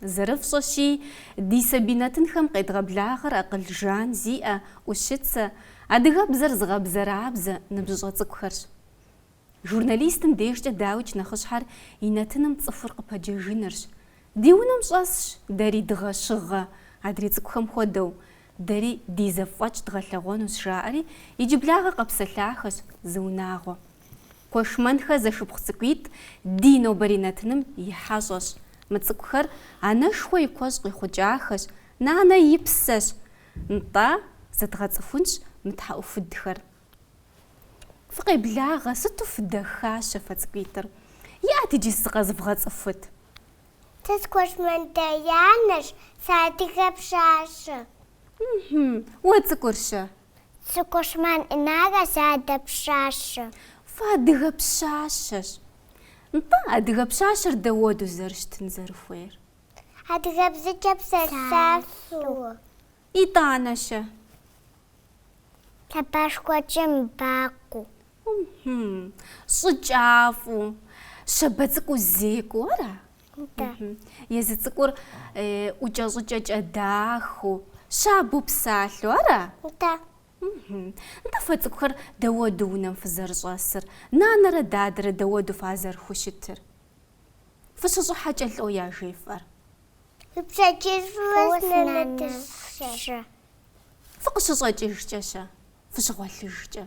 Зэрыфщӏэщи, ди сабий нэтынхэм къедгъэблагъэр акъыл жан зиӏэ, ӏущыцэ, адыгэбзэр зыгъэбзэрабзэ ныбжьыщӏэ цӏыкӏухэрщ. Журналистым дежкӏэ дауикӏ нэхъыщхьэр и нэтыным цӏыхур къыпэджэжынырщ. Ди унэм щӏэсщ дэри дыгъэ-щыгъэ, адрей цӏыкӏухэм хуэдэу, дэри ди зэфӏэкӏ дгъэлъэгъуэнущ, жаӏэри иджыблагъэ къэпсэлъахэщ зы унагъуэ. Куэшмэнхэ зэшыпхъу цӏыкӏуитӏ ди нобэрей нэтыным и хьэщӏэщ. Мы цӏыкӏухэр анэшхуэ и куэщӏ къихъукӏахэщ, нанэ и псэщ. Нтӏэ, зэдгъэцӏыхунщ мы тхьэӏухудхэр. Фыкъеблагъэ, сыту фыдэхащэ фэ цӏыкӏуитӏыр. Иӏэт иджы зыкъэзывгъэцӏыхут. Сэ сы-Куэшмэн Даянэщ, сыадыгэ пщащэ. Хм, уэ цӏыкӏурщэ, Сы-Куэшмэн Инарэ, сыадыгэ пщащэ. Фэ адыгэ пщащэщ. Нтӏэ, адыгэ пщащэр дэуэду зэрыщытын зэрыхуейр? Адыгэбзэкӏэ псэлъэфу. Итӏанэ-щэ? Лъэбашхуэкӏэ мыбакъуу. Хм-хм. Щӏыкӏафӏэу. Щабэ цӏыкӏуу зекӏуэу ара? Езы цӏыкӏур ӏукӏэ-щӏыкӏэкӏэ дахэу, щабэу псалъэу, ара? Да. Нтӏэ фэ цӏыкӏухэр дэуэду унэм фызэрыщӏэсыр, нанэрэ дадэрэ дэуэду фазэрыхущытыр? Фыщыщӏыхьэкӏэ лӏо яжефӏэр? Фыкъыщыщӏэкӏыжкӏэ-щэ? Фыщыгъуэлъыжкӏэ?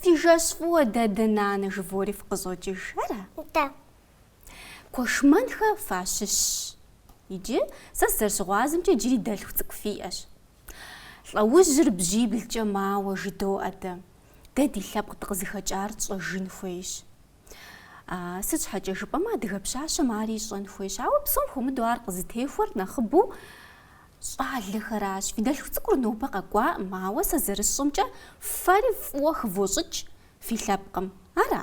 Фи жэщ фӏыуэ дадэ-нанэ жывори фыкъыщӏокӏыж, ара? Да. Куэшмэнхэ фащыщщ. Иджы сэ сызэрыщыгъуазэмкӏэ иджыри дэлъху цӏыкӏу фиӏэщ. Лӏэужьыр бжьиблкӏэ мауэ жыдоӏэ дэ. Дэ ди лъэпкъ дыкъызыхэкӏар тщӏэжын хуейщ. Сыт щхьэкӏэ жыпӏэмэ адыгэ пщащэм ари ищӏэн хуейщ. Ауэ псом хуэмыдэу ар къызытехуэр нэхъыбэу щӏалэхэращ. Фи дэлъху цӏыкӏур нобэ къэкӏуаӏым, ауэ сэ зэрысщӏэмкӏэ фэри фӏыуэ хывощӏыкӏ фи лъэпкъым. Ара?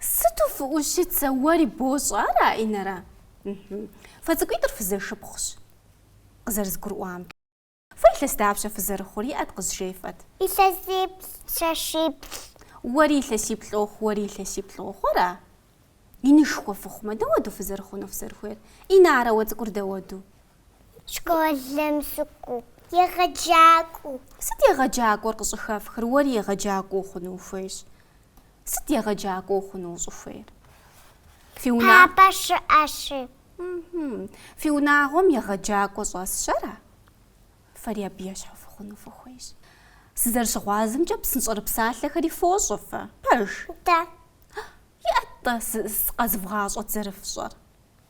Сыту фыӏущыцэ, уэри бощӏэ, ара, Инарэ? Фэ цӏыкӏуитӏыр фызэшыпхъущ, къызэрызгурыӏуам. Фэ илъэс дапщэ фызэрыхъур, иӏэт къызжефӏэт. Илъэсиплӏ, илъэсиплӏ. Уэри илъэсиплӏ уохъу, уэри илъэсиплӏ уохъу, ара? Инышхуэ фыхъумэ, дауэду фызэрыхъуну фызэрыхуейр? Инарэ, уэ цӏыкӏур дауэду? Школым сыкӏуэу, егъэджакӏуэу. Сыт егъэджакӏуэр къыщӏыхэфхыр? Уэри егъэджакӏуэ ухъуну ухуейщ. Сыт егъэджакӏуэ ухъуну ущӏыхуейр? Фи уна... Папа щыӏэщи. Фи унагъуэм егъэджакӏуэ щӏэсщ, ара? Фэри абы ещхьу фыхъуну фыхуейщ. Сызэрыщыгъуазэмкӏэ, псынщӏэрыпсалъэхэри фощӏэ фэ, пэж? Дэ. Иӏэт-тӏэ къэзывгъащӏэт зэрыфщӏэр?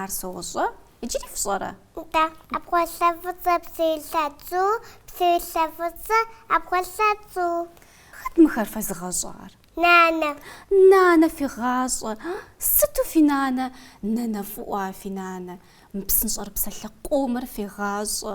Ар сощӏэ, иджыри фщӏэрэ? Нтӏэ, ӏэпхъуэлъэ фӏыцӏэ псыилъэ цу, псыилъэ фӏыцӏэ ӏэпхъуэлъэ цу. Хэт мыхэр фэзыгъэщӏар? Нанэ. Нанэ фегъащӏэ. Сыту фи нанэ, нэнэфӏыӏуа фи нанэ, мы псынщӏэрыпсалъэ къомыр фегъащӏэ.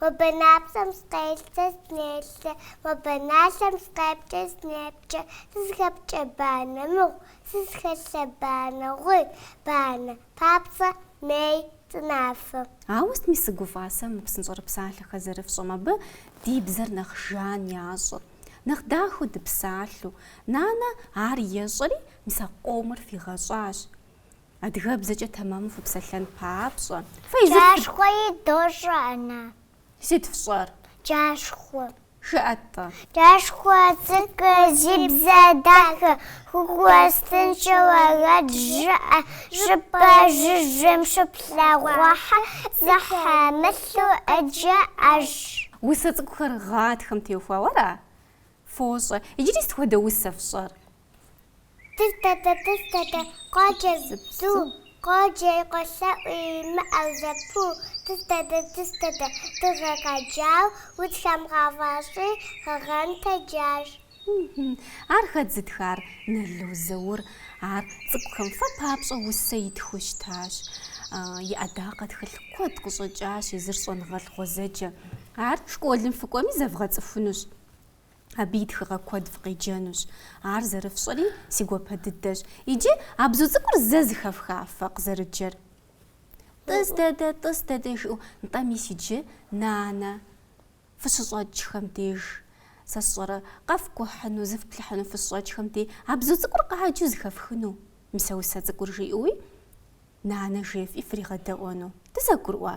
Мо бэнапцӏэм сыкъелъэ, сынелъэ, Мо бэналъэм сыкъепкӏэ, сынепкӏэ. Сызыхэпкӏэ банэ мыгъу, Сызыхэлъэ банэ гъуи, Банэ папцӏэ, мей цӏынафэ. Ауэ сытми сыгуфӏа сэ мы псынщӏэрыпсалъэхэр зэрыфщӏэм, абы ди бзэр нэхъ жан ящӏыр, нэхъ дахэу дыпсалъэу. Нанэ ар ещӏэри, мис а къомыр фигъэщӏащ. Адыгэбзэкӏэ тэмэму фыпсэлъэн папщӏэ. Пцӏащхъуэи дощӏэ, Анэ. Сыт фщӏэр? Джащхъуэ. Жыӏэ-тӏэ. Пцӏащхъуэ цӏыкӏу зи бзэ дахэ, хыгуэстыншэу уэрэд жыӏэ, щӏыпӏэ жыжьэм щыплъэгъуахэр, пцӏы хэмылъу къыджеӏэж. Усэ цӏыкӏухэр гъатхэм теухуауэ ара? Фощӏэ. Иджыри сыт хуэдэ усэ фщӏэр? Тӏыс дэдэ, тӏыс дэдэ, къоджэ зы бзу, Къоджэ и къолъэӏу имыӏэу зэпыу. Тӏыс дэдэ, тӏыс дэдэ, дыгъэ къэджау, Удзхэм гъэфӏэщӏи, гъэгъэн тэджащ. Ар хэт зытхар? Нало Заур. Ар цӏыкӏухэм фэ папщӏэ усэ итхыу щытащ. И ӏэдакъэ тхылъ куэд къыщӏэкӏащ, езыр щӏэныгъэлӏ гъуэзэджэ. Ар школым фыкӏуэми зэвгъэцӏыхунущ. Абы и тхыгъэ куэд фыкъеджэнущ. Ар зэрыфщӏэри си гуапэ дыдэщ. Иджы а бзу цӏыкӏур зэ зыхэфха фэ къызэрыджэр. Тӏыс дэдэ, тӏыс дэдэ жиӏэу, нтӏэ мис иджы, нанэ, фыщыщӏэкӏхэм деж, сэ сщӏэрэ, къэфкӏухьыну, зыфплъыхьыну фыщыщӏэкӏхэм дей а бзу цӏыкӏур къаджэу зыхэфхыну, мис а усэ цӏыкӏур жиӏэуи, нанэ жефӏи фригъэдэӏуэну дызэгурыӏуа?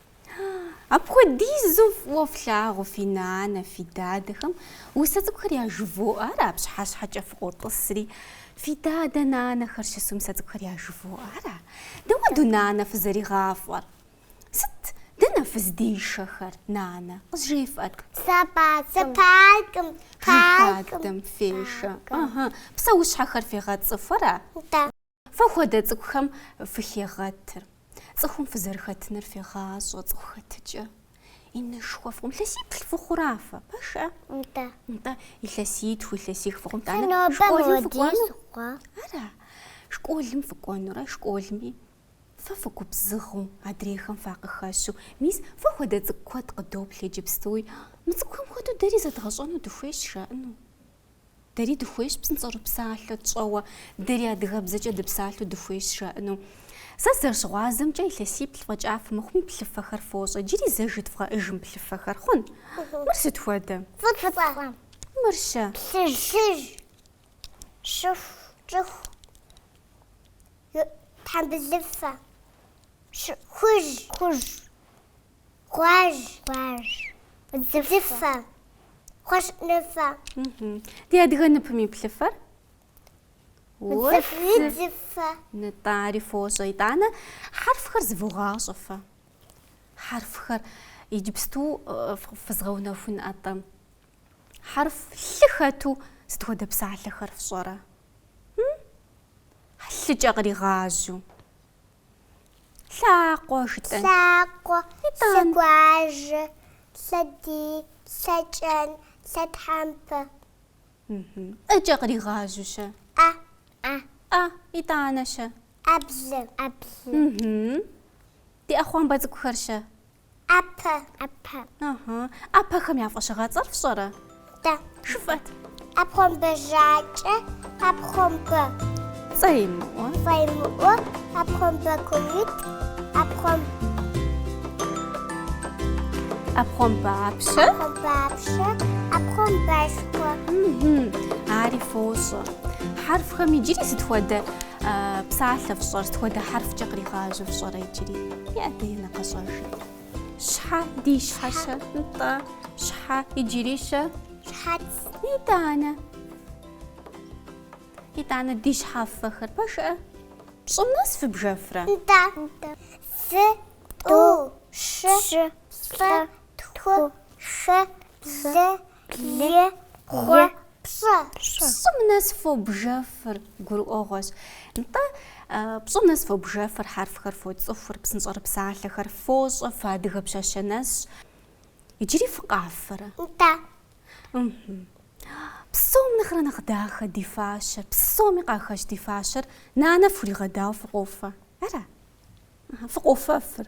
Апхуэдизу фӏыуэ флъагъу фи нанэ, фи дадэхэм. Усэ цӏыкӏухэр яжывоӏэ, ара, пщыхьэщхьэкӏэ фыкъотӏысри. Фи дадэ, нанэхэр щысу усэ цӏыкӏухэр яжывоӏэ, ара? Дауэ ду нанэ фызэригъафӏэр? Сыт? Дэнэ фыздишэхэр, нанэ? Къызжефӏэт. Сэ паркым. Паркым. Паркым. Паркым фешэ. Псэущхьэхэр фегъэцӏыху, ара? Да. Фэ хуэдэ цӏыкӏухэм фыхегъэтыр, цӏыхум фызэрыхэтыныр фегъащӏэ, цӏыху хэтыкӏэ инышхуэ фыхъум. Илъэсиплӏ фыхъура фэ, пэжкъэ? Нтӏэ. Нтӏэ, илъэситху, илъэсих фыхъум. Сэ Тӏанэ нобэ школым молодец фыкӏуэну? хъуа? Ара, школым фыкӏуэнурэ, школми фэ фыгубзыгъэу, адрейхэм факъыхэщу. Мис, фэ хуэдэ цӏыкӏу куэд къыдоплъ иджыпстуи. Мы цӏыкӏухэм хуэдэу дэри зэдгъэщӏэну дыхуейщ, жаӏэну. Дэри дыхуейщ псынщӏэрыпсалъэ тщӏэуэ, дэри адыгэбзэкӏэ дыпсалъэу дыхуейщ жаӏэну. Сэ сызэрыщыгъуазэмкӏэ, илъэсиплӏ фӏэкӏа фымыхъуми плъыфэхэр фощӏэ, иджыри зэ жыдывгъэӏэж мы плъыфэхэр, хъун? Мыр сыт хуэдэ? Фӏыцӏэ. Мыр-щэ? Плъыжь, плъыжь, щӏыху, щӏыху, тхьэмбылыфэ, хужь. Хужь. Гъуэжь. Гъуэжь. Удзыфэ. Кхъуэщыныфэ. Ди адыгэ ныпым и плъыфэр? Удзыфэ. Нтӏэ ари фощӏэ. Итӏанэ хьэрфхэр зывогъащӏэ фэ. Хьэрфхэр иджыпсту фызгъэунэхун атӏэ. Хьэрф лъы хэту сыт хуэдэ псалъэхэр фщӏэрэ? Лъыкӏэ къригъажьэу. Лъакъуэ, жытӏэн. Лъакъуэ, лъэгуажьэ, лъэдий, лъэкӏэн, лъэтхьэмпэ. ӏэкӏэ къригъажьэу-щэ? ӏэ. ӏэ. ӏэ, итӏанэ-щэ? ӏэблэ. ӏэблэ. Ди ӏэхъуамбэ цӏыкӏухэр-щэ? ӏэпэ. ӏэпэ. Ыгьы. ӏэпэхэм я фӏэщыгъэцӏэр фщӏэрэ? Дэ. Жыфӏэт. ӏэпхъуамбэ жьакӏэ, ӏэпхъуамбэ цӏэимыӏуэ. Цӏэимыӏуэ, ӏэпхъуамбэ курыт, ӏэпхъуам. ӏэпхъуамбэ апщэ. ӏэпхъуамбэ апщэ, ӏэпхъуамбэшхуэ. Ыгьы. Ари фощӏэ. Хьэрфхэм иджыри сыт хуэдэ псалъэ фщӏэр, сыт хуэдэ хьэрфкӏэ къригъажьэу фщӏэрэ иджыри? Иӏэ, Динэ, къэщӏэж. Щхьэ. Ди щхьэ-щэ, нтӏэ, щхьэ иджыри-щэ. Щхьэц. Итӏанэ. Итӏанэ ди щхьэфэхэр. Пэшыӏэ. Пщӏым нэс фыбжэфрэ? Нтӏэ. Нтӏэ. Зы, тӏу, щы, щы, плӏы, тху, хы, блы, Блы, и, бгъу, пщӏы. Пщӏым нэс фобжэфыр гурыӏуэгъуэщ. Нтӏэ, пщӏым нэс фобжэфыр, хьэрфхэр фоцӏыхур, псынщӏэрыпсалъэхэр фощӏэ, фыадыгэ пщащэ нэсщ. Иджыри фыкъафэрэ? Нтӏэ. Псом нэхърэ нэхъ дахэ ди фащэр, псоми къахэщ ди фащэр, нанэ фхуригъэдауэ фыкъофэ. Ара? Фыкъофэфыр.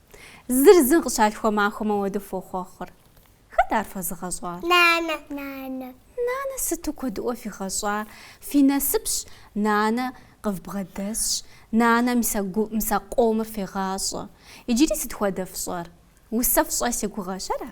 Зыр зым къыщалъхуа махуэм уэрэду фохъуэхъур. Хэт ар фэзыгъэщӏар? Нанэ. Нанэ. Нанэ сыту куэдыӏуэ фигъэщӏа? Фи насыпщ, нанэ къывбгъэдэсщ, нанэ мы усэ къомыр фегъащӏэ. Иджыри сыт хуэдэ фщӏэр? Усэ фщӏэ си гугъэщ, ара?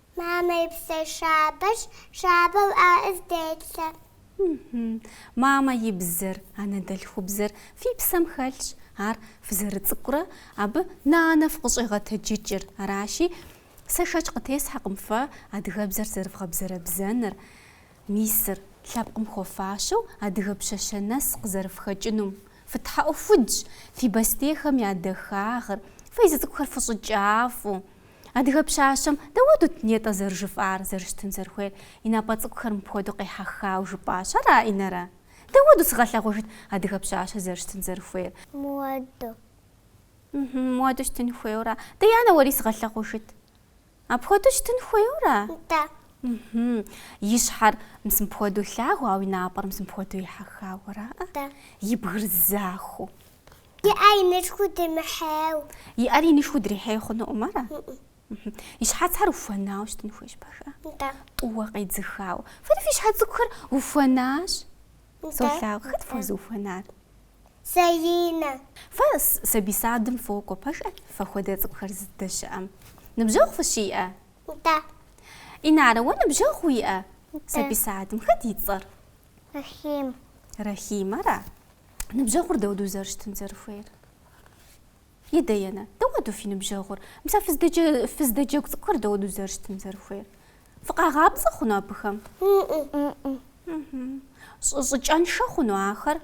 Мамэ и бзэ щабэщ, щабэу ӏэ къызделъэ. Мамэ и бзэр, анэдэлъхубзэр фи псэм хэлъщ, ар фызэрыцӏыкӏурэ абы нанэ фыкъыщӏегъэтэджыкӏыр. Аращи, сэ шэч къытесхьэкъым фэ адыгэбзэр зэрывгъэбзэрэбзэныр. Мисыр, лъэпкъым хуэфащэу адыгэ пщащэ нэс къызэрыфхэкӏынум. Фытхьэӏухудщ фи бостейхэм я дахагъыр, фэ езы цӏыкӏухэр фыщӏыкӏафӏэу. Адыгэ пщащэм дауэдут нетӏэ зэрыжыфӏар, зэрыщытын зэрыхуейр, и напӏэ цӏыкӏухэр мыпхуэдэу къехьэхауэ жыпӏащ. Ара, Инарэ? Дауэду сыгъэлъэгъуэжыт адыгэ пщащэр зэрыщытын зэрыхуейр? Муэду. Мхьм, муэду щытын хуейуэ ара? Даянэ, уэри сыгъэлъэгъуэжыт. Апхуэдэу щытын хуейуэ ара? Да. Мхм. И щхьэр мис мыпхуэдэу лъагэу, ауэ и напӏэр мис мыпхуэдэу ехьэхауэ ара? Да. И бгыр захуэу. И ӏэр инышхуэу дримыхьейуэ. И ӏэр инышхуэу дрихьей хъунукъым, ара? Мхм. И щхьэцхэр ухуэнауэ щытын хуейщ, пэжкъэ? Да. Тӏууэ къедзыхауэ. Фэри фи щхьэ цӏыкӏухэр ухуэнащ? Да. Солъагъу. Хэт фхуэзыухуэнар? Саинэ. Фэ сабий садым фокӏуэ пэжкъэ? Фэ хуэдэ цӏыкӏухэр зыдэщыӏэм ныбжьэгъу фыщиӏэ? Нтӏэ. Инарэ, уэ ныбжьэгъу уиӏэ? Нтӏэ. Сабий садым хэт и цӏэр? Рахим. Рахим, ара? Ныбжьэгъур дауэду зэрыщытын зэрыхуейр? Е, Даянэ, дауэду фи ныбжьэгъур? Мис а фыздэджэгу цӏыкӏухэр дауэду зэрыщытын зэрыхуейр? Фыкъагъапцӏэ хъуну абыхэм? Щӏыкӏэншэ хъуну ахэр?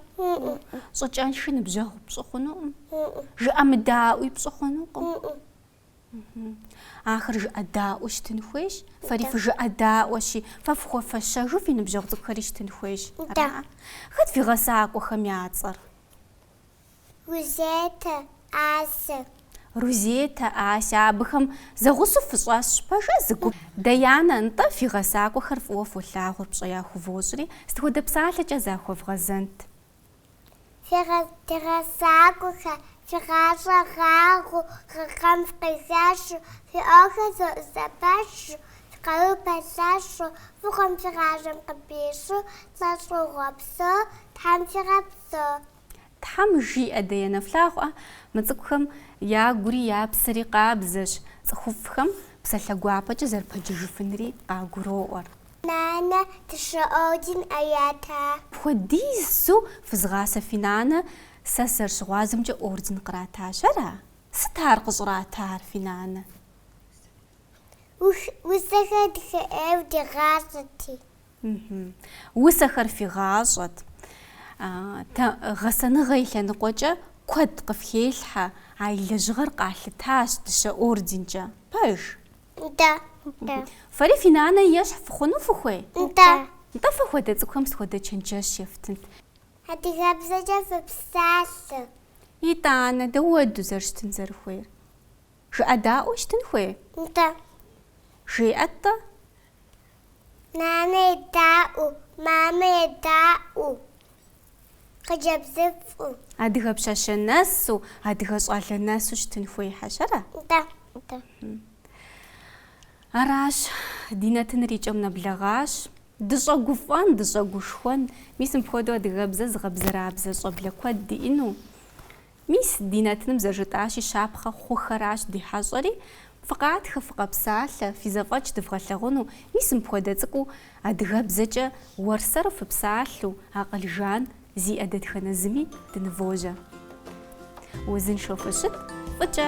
Щӏыкӏэнши ныбжьэгъу пщӏы хъунукъым. Жыӏэмыдаӏуи пщӏы хъунукъым. Ахэр жыӏэдаӏуэу щытын хуейщ, фэри фыжыӏэдаӏуэщи, фэ фхуэфэщэжу фи ныбжьэгъу цӏыкӏухэри щытын хуейщ. Хэт фи гъэсакӏуэхэм я цӏэр? Рузетэ, Асэ. Рузетэ, Асэ, абыхэм зэгъусэу фыщӏэсщ, пэжкъэ, зы гуп. Даянэ, нтӏэ, фи гъэсакӏуэхэр фӏыуэ фолъагъур пщӏэ яхувощӏри, сыт хуэдэ псалъэкӏэ захуэвгъэзэнт? Ди гъэсакӏуэхэр, фи гъащӏэ гъагъэу, гъэхэм фыкъыхэщу, фи ӏуэхухэр зэӏузэпэщу, фи къару пэлъэщу, фӏыгъуэм фи гъащӏэм къыпищэу, лӏэщӏыгъуэ псо Тхьэм фигъэпсэу. Тхьэм жиӏэ, Даянэ. Флъагъуркъэ, мы цӏыкӏухэм я гури я псэри къабзэщ, цӏыхуфӏхэм псалъэ гуапэкӏэ зэрыпэджыжыфынри къагуроӏуэр. Нанэ дыщэ орден къратащ. Апхуэдизу фызгъасэ фи нанэ, сэ сызэрыщыгъуазэмкӏэ орден къратащ, ара? Сыт ар къыщӏратар фи нанэ? Ух, усэхэр дахэ ӏейуэ дигъащӏэрти. Усэхэр фигъащӏэт. Нтӏэ гъэсэныгъэ и лъэныкъуэкӏэ куэд къыфхелъхьэ, а и лэжьыгъэр къалъытащ дыщэ орденкӏэ. Пэж? Нтӏэ. Нтӏэ. Фэри фи нанэ ещхь фыхъуну фыхуей? Нтӏэ. Нтӏэ, фэ хуэдэ цӏыкӏухэм сыт хуэдэ чэнджэщ ефтынт? Адыгэбзэкӏэ фыпсалъэ. Итӏанэ, дауэду зэрыщытын зэрыхуейр? Жыӏэдаӏуэу щытын хуей? Нтӏэ. Жеӏэт-тӏэ? Нанэ едаӏуэу, мамэ едаӏуэу, хъыджэбзыфӏу. Адыгэ пщащэ нэсу, адыгэ щӏалэ нэсу щытын хуей хьэщӏэр? Да, да. Аращ, ди нэтыныр и кӏэм нэблэгъащ. Дыщӏэгуфӏэн, дыщӏэгушхуэн, мис мыпхуэдэу адыгэбзэ зыгъэбзэрабзэ щӏэблэ куэд диӏэну, Мис, ди нэтыным зэжытӏащи, щапхъэ хъухэращ ди хьэщӏэри. Фыкъатхэ, фыкъэпсалъэ, фи зэфӏэкӏ дывгъэлъагъуну, мис мыпхуэдэ цӏыкӏуу, адыгэбзэкӏэ уэрсэру фыпсалъэу, акъыл жан зиӏэ дэтхэнэ зыми дынывожьэ. Узыншэу фыщыт, фӏыкӏэ.